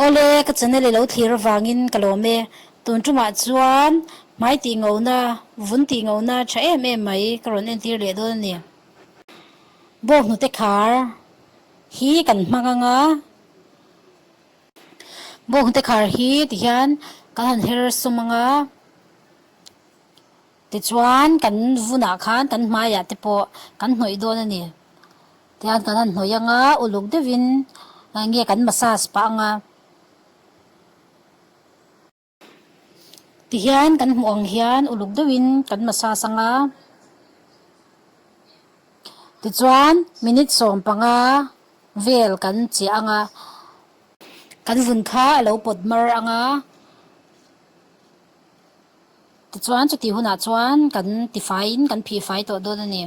Awle, ka channel i lo thlir avangin ka lawm e. Tun tumah chuan hmai tih ngona, vun tih ngona tha em em mai ka rawn entir leh dawn a ni. Bawk hnute khar hi kan hma ngang a. Bawk hnute khar hi ti hian kan han her sawm ang a. Tichuan kan vunah khan kan hmaiah te pawh kan hnawih dawn a ni. Tiang kan han hnawih anga uluk deuhin enge kan massage pah anga tihian kan hmuh ang hian uluk deuhin kan massage anga tichuan minute sawm panga vel kan chiah anga kan vun kha a lo pawt mar anga. Tichuan chuti hunah chuan kan tifaiin kan phihfai tawh dawn a ni.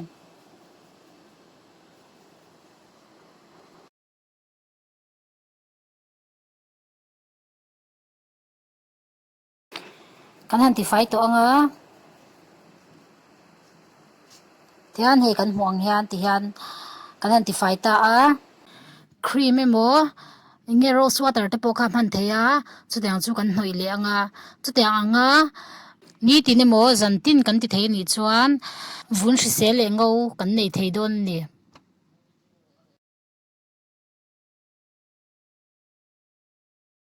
Kan han tifai tawh ang a. tihian hei kan hmuh ang hian tihian kan han tifai ta a cream emaw eng nge rose water te pawh kha a hman theih a chutiang ang chu kan hnawih leh ang a chutiang ang a nitin emaw zan tin kan ti thei a nih chuan vun hrisel leh ngo kan nei thei dawn a ni.